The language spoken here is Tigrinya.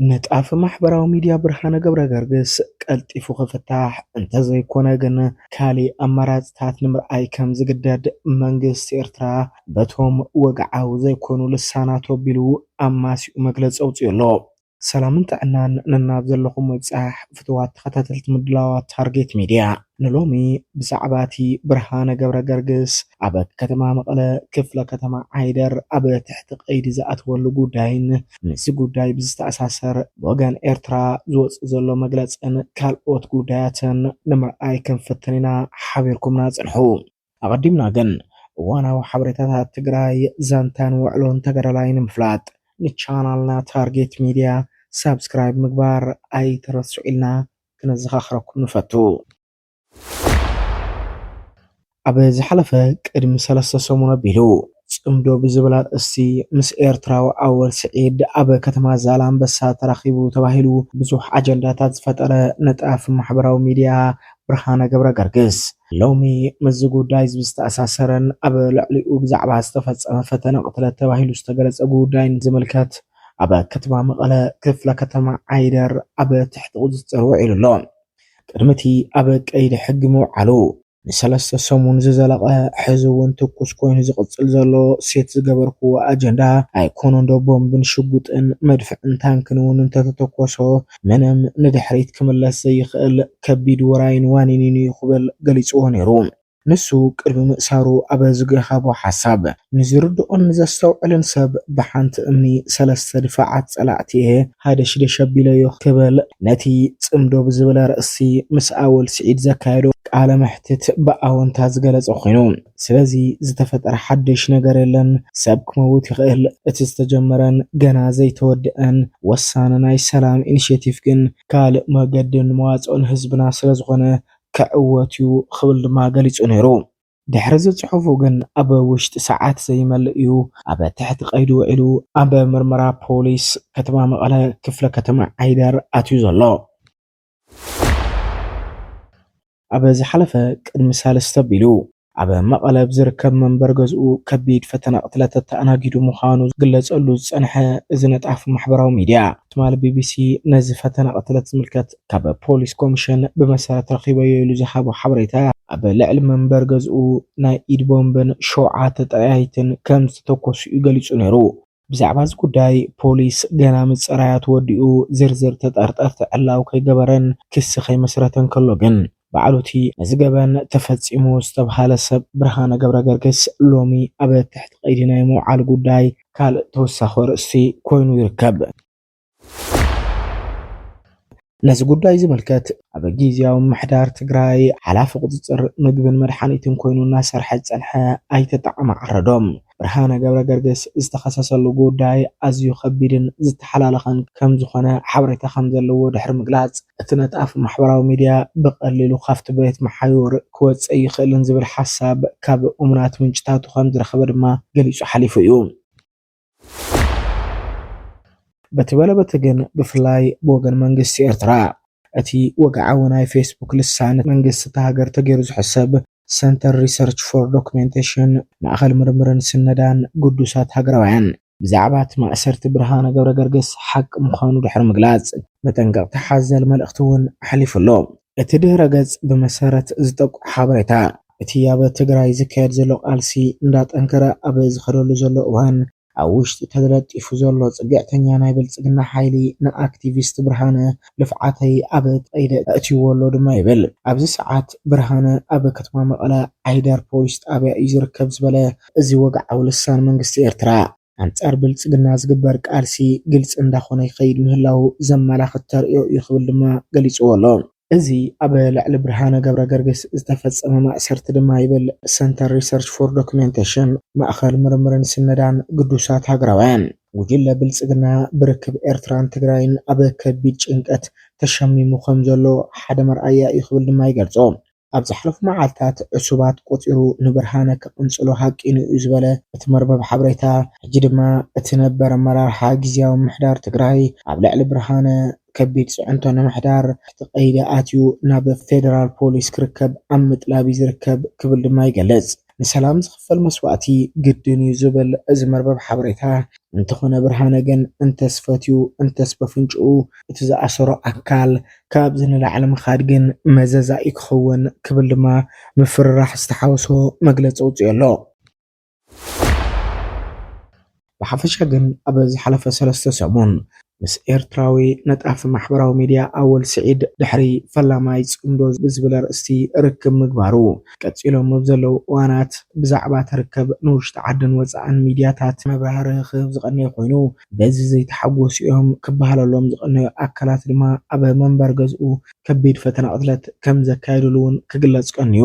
ንጣፍ ማሕበራዊ ሚድያ ብርሃነ ገብረ ገርግስ ቀልጢፉ ክፍታሕ እንተዘይኮነ ግን ካሊእ ኣማራፅታት ንምርኣይ ከም ዝግደድ መንግስቲ ኤርትራ በቶም ወግዓዊ ዘይኮኑ ልሳናት ኣቢሉ ኣማሲኡ መግለጺ ኣውጺኡ ኣሎ። ሰላምን ጥዕናን ነናብ ዘለኹም ምብጻሕ ፍቱዋት ተኸታተልቲ ምድላዋት ታርጌት ሚድያ። ንሎሚ ብዛዕባ እቲ ብርሃነ ገብረገርግስ ኣብ ከተማ መቐለ ክፍለ ከተማ ዓይደር ኣብ ትሕቲ ቀይዲ ዝኣተወሉ ጉዳይን ምስዚ ጉዳይ ብዝተኣሳሰር ብወገን ኤርትራ ዝወጽእ ዘሎ መግለጽን ካልኦት ጉዳያትን ንምርኣይ ክንፍትን ኢና ሓቢርኩምና ጽንሑ። ኣቐዲምና ግን እዋናዊ ሓበሬታታት ትግራይ፣ ዛንታን ውዕሎን ተጋዳላይ ንምፍላጥ ንቻናልና ታርጌት ሚድያ ሳብስክራይብ ምግባር ኣይትረስዑ ኢልና ክነዘኻኽረኩም ንፈቱ። ኣብ ዝሓለፈ ቅድሚ ሰለስተ ሰሙን ኣቢሉ ጽምዶ ብዝብል ኣርእስቲ ምስ ኤርትራዊ ኣወል ስዒድ ኣብ ከተማ ዛላምበሳ ተራኺቡ ተባሂሉ ብዙሕ ኣጀንዳታት ዝፈጠረ ነጣፊ ማሕበራዊ ሚድያ ብርሃነ ገብረገርግስ ሎሚ ምስዚ ጉዳይዚ ብዝተኣሳሰረን ኣብ ልዕሊኡ ብዛዕባ ዝተፈጸመ ፈተነ ቅትለት ተባሂሉ ዝተገለጸ ጉዳይን ዝምልከት ኣብ ከተማ መቐለ ክፍለ ከተማ ዓይደር ኣብ ትሕቲ ቁጽጽር ውዒሉ ኣሎ። ቅድሚ እቲ ኣብ ቀይዲ ሕጊ ምውዓሉ፣ ንሰለስተ ሰሙን ዝዘለቐ ሕዚ እውን ትኩስ ኮይኑ ዝቕጽል ዘሎ ሴት ዝገበርክዎ ኣጀንዳ ኣይኮነንዶ ቦምብን ሽጉጥን መድፍዕን ታንክን እውን እንተተተኮሶ ምንም ንድሕሪት ክምለስ ዘይኽእል ከቢድ ውራይን ዋኒኒን'ዩ ክብል ገሊጽዎ ነይሩ። ንሱ ቅድሚ ምእሳሩ ኣብ ዝገሃቦ ሓሳብ፣ ንዝርድኦን ንዘስተውዕልን ሰብ ብሓንቲ እምኒ ሰለስተ ድፋዓት ጸላእቲ'የ ሃደሽደሽ ኣቢለዮ ክብል ነቲ ጽምዶ ብዝብል ኣርእስቲ ምስ ኣወል ስዒድ ዘካየዶ ቃለ መሕትት ብኣወንታ ዝገለጸ ኮይኑ፣ ስለዚ ዝተፈጠረ ሓደሽ ነገር የለን። ሰብ ክመውት ይኽእል። እቲ ዝተጀመረን ገና ዘይተወደኣን ወሳኒ ናይ ሰላም ኢኒሼቲቭ ግን ካልእ መገድን መዋጽኦን ህዝብና ስለዝኾነ ክዕወት'ዩ ክብል ድማ ገሊጹ ነይሩ። ድሕሪ'ዚ ጽሑፉ ግን ኣብ ውሽጢ ሰዓት ዘይመልእ'ዩ ኣብ ትሕቲ ቀይዲ ውዒሉ ኣብ ምርመራ ፖሊስ ከተማ መቐለ ክፍለ ከተማ ዓይደር ኣትዩ ዘሎ። ኣብ ዝሓለፈ ቅድሚ ሳልስቲ ኣቢሉ ኣብ መቐለ ኣብ ዝርከብ መንበሪ ገዝኡ ከቢድ ፈተነ ቅትለት ተኣናጊዱ ምዃኑ ዝግለጸሉ ዝጸንሐ እዚ ነጣፊ ማሕበራዊ ሚድያ፣ ትማሊ ቢቢሲ ነዚ ፈተነ ቅትለት ዝምልከት ካብ ፖሊስ ኮሚሽን ብመሰረት ረኺበዮ ኢሉ ዝሃቦ ሓበሬታ፣ ኣብ ልዕሊ መንበሪ ገዝኡ ናይ ኢድ ቦምብን ሸውዓተ ጠያይትን ከምዝተተኮሱ'ዩ ገሊጹ ነይሩ። ብዛዕባ እዚ ጉዳይ ፖሊስ ገና ምጽራያ ተወዲኡ ዝርዝር ተጠርጠርቲ ዕላዊ ከይገበረን ክሲ ከይመስረተን ከሎ ግን ባዕሉ'ቲ ነዚ ገበን ተፈጺሙ ዝተብሃለ ሰብ ብርሃነ ገብረገርግስ ሎሚ ኣብ ትሕቲ ቀይዲ ናይ ምውዓሉ ጉዳይ ካልእ ተወሳኺ ኣርእስቲ ኮይኑ ይርከብ። ነዚ ጉዳይ ዝምልከት ኣብ ጊዜያዊ ምሕዳር ትግራይ ሓላፊ ቁፅፅር ምግብን መድሓኒትን ኮይኑ እናሰርሐ ዝፀንሐ ኣይተ ጣዕመ ዓረዶም ብርሃነ ገብረ ገርግስ ዝተኸሰሰሉ ጉዳይ ኣዝዩ ከቢድን ዝተሓላለኸን ከም ዝኾነ ሓበሬታ ከም ዘለዎ ድሕሪ ምግላፅ እቲ ነጣፊ ማሕበራዊ ሚዲያ ብቐሊሉ ካብቲ ቤት መሓዩር ክወፅእ ኣይኽእልን ዝብል ሓሳብ ካብ እሙናት ምንጭታቱ ከም ዝረኸበ ድማ ገሊፁ ሓሊፉ እዩ። በቲ በለ በቲ ግን ብፍላይ ብወገን መንግስቲ ኤርትራ እቲ ወግዓዊ ናይ ፌስቡክ ልሳን መንግስቲ እታ ሃገር ተገይሩ ዝሕሰብ ሰንተር ሪሰርች ፎር ዶክሜንቴሽን ማእኸል ምርምርን ስነዳን ግዱሳት ሃገራውያን ብዛዕባ እቲ ማእሰርቲ ብርሃነ ገብረገርግስ ሓቂ ምዃኑ ድሕሪ ምግላጽ መጠንቀቕታ ሓዘል መልእኽቲ እውን ኣሕሊፉ ኣሎ። እቲ ድህረ ገፅ ብመሰረት ዝጠቁ ሓበሬታ እቲ ኣብ ትግራይ ዝካየድ ዘሎ ቃልሲ እንዳጠንከረ ኣብ ዝኸደሉ ዘሎ እዋን ኣብ ውሽጢ ተለጢፉ ዘሎ ፅግዕተኛ ናይ ብልፅግና ሓይሊ ንኣክቲቪስት ብርሃነ ልፍዓተይ ኣብ ቀይዲ ኣእትዩዎ ኣሎ ድማ ይብል። ኣብዚ ሰዓት ብርሃነ ኣብ ከተማ መቐለ ዓይደር ፖሊስ ጣብያ እዩ ዝርከብ ዝበለ እዚ ወግዓዊ ልሳን መንግስቲ ኤርትራ፣ ኣንፃር ብልፅግና ዝግበር ቃልሲ ግልፂ እንዳኾነ ይኸይድ ምህላዉ ዘመላኽት ተርእዮ እዩ ክብል ድማ ገሊፅዎ ኣሎ። እዚ ኣብ ልዕሊ ብርሃነ ገብረገርግስ ዝተፈፀመ ማእሰርቲ ድማ ይብል ሰንተር ሪሰርች ፎር ዶክሜንቴሽን፣ ማእኸል ምርምርን ስነዳን ግዱሳት ሃገራውያን፣ ጉጅለ ብልፅግና ብርክብ ኤርትራን ትግራይን ኣብ ከቢድ ጭንቀት ተሸሚሙ ከምዘሎ ሓደ መርኣያ እዩ ክብል ድማ ይገልፆ። ኣብ ዝሓለፉ መዓልታት ዕሱባት ቆጺሩ ንብርሃነ ክቕንጽሎ ሃቂኑ'ዩ ዝበለ እቲ መርበብ ሓበሬታ፣ ሕጂ ድማ እቲ ነበር ኣመራርሓ ግዝያዊ ምምሕዳር ትግራይ ኣብ ልዕሊ ብርሃነ ከቢድ ጽዕንቶ ንምሕዳር ትሕቲ ቀይዲ ኣትዩ ናብ ፌደራል ፖሊስ ክርከብ ኣብ ምጥላብ'ዩ ዝርከብ ክብል ድማ ይገልጽ። ንሰላም ዝኽፈል መስዋእቲ ግድን እዩ ዝብል እዚ መርበብ ሓበሬታ፣ እንተኾነ ብርሃነ ግን እንተስ ፈትዩ እንተስ በፍንጭኡ እቲ ዝኣሰሮ ኣካል ካብዚ ንላዕሊ ምኻድ ግን መዘዛ እዩ ክኸውን ክብል ድማ ምፍርራሕ ዝተሓወሶ መግለፂ ኣውፂኡ ኣሎ። ብሓፈሻ ግን ኣብ ዝሓለፈ ሰለስተ ሰሙን ምስ ኤርትራዊ ነጣፊ ማሕበራዊ ሚድያ ኣወል ስዒድ ድሕሪ ፈላማይ ጽምዶ ብዝብል ኣርእስቲ ርክብ ምግባሩ ቀጺሎም ኣብ ዘለዉ እዋናት ብዛዕባ እቲ ርከብ ንውሽጢ ዓድን ወጻእን ሚድያታት መብራህርሂ ክህብ ዝቐነየ ኮይኑ በዚ ዘይተሓጎሱ እዮም ክበሃለሎም ዝቐነዩ ኣካላት ድማ ኣብ መንበሪ ገዝኡ ከቢድ ፈተነ ቅትለት ከምዘካየዱሉ እውን ክግለጽ ቀንዩ።